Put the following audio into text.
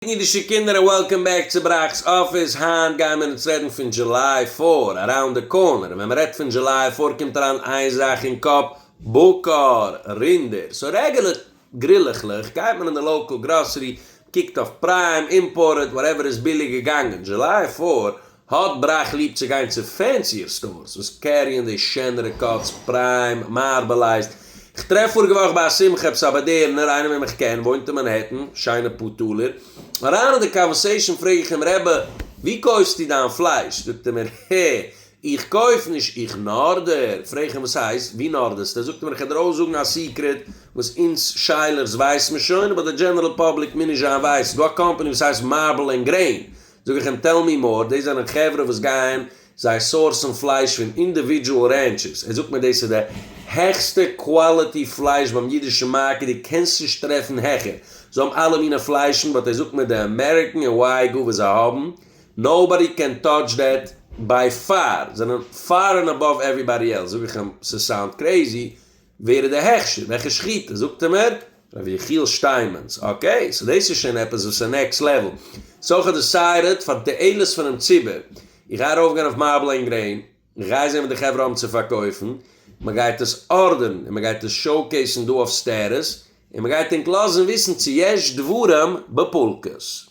אידישע קינדער און וועלקאם בעק צו בראק'ס אפיס, היינט גייען מיר אונז רעדן פון דזשוליי פאור, אראונד די קארנער, און ווען מ'רעדט פון דזשוליי פאור קומט אריין איין זאך אין קאפ, בקר, רינדער, סאו רעגעלער גרילעכלעך גייט מען אין די לאקעל גראסערי, מ'קוקט אויף פריים, אימפארטעד, וואטעווער איז ביליג געגאנגען, דזשוליי פאור, האט בראך ליב צו גיין צו פענסיער סטארס וואס קעריען די שענערע קאטס, פריים, מארבעלייזד, כ'טרעף פאריגע וואך ביי א שמחה עפעס א באדערענער, איינער וועם איך קען, וואוינט אין מאנהעטן, שיינע פאר טאלער, אריין אין די קאנווערסעישאן פרעג איך אים רעבע ווי קויפסטו דיין פלייש? זאגט ער מיר הע איך קויף נישט איך נארדער, פרעג איך אים וואס הייסט ווי נארדערסטו? זאגט ער מיר איך וועל דיר אויסזאגן א סיקרעט וואס אונז שיילערס ווייסמער שוין אבער די דזשענערעל פאבליק מוז נישט זיין ווייסט דא א קאמפעני וואס הייסט מארבעל ענד גרעין זאג איך אים טעל מי מאר, דאס זענען חברה וואס גייען, זיי סאורסן פלייש פון אינדיווידזשועל רענטשעס, ער זאגט מיר דאס איז די העכסטע קוואליטי פלייש ביים אידישן מארקעט, דו קענסט נישט טרעפן העכער, זיי האבן אלע מינע פליישן באט ער זאגט מיר די אמעריקן און ווייגו וואס זיי האבן, נאובאדי קען טאטש דעט, ביי פאר, זענען פאר ענד עבאוו עוועריבאדי עלס, זאג איך אים ס'סאונד קרעיזי, ווער איז די הכשר? וועלכע שחיטה? זאגט ער מיר, ר' יחיאל שטיינמענס. אקעי, סאו דאס איז שוין עפעס וואס איז נעקסט לעוועל. סאו איך האב דעסיידעד, פאר תועלת פונעם ציבור, איך גיי ארויפגיין אויף מארבל ענד גרעין, איך גיי זען וואס די חברה האבן צו פארקויפן, מען גייט עס ארדערן און מען גייט עס שאוקעיסן דא אויף סטעטוס, און מען גייט ענק לאזן וויסן צו יש דברים בפולקות.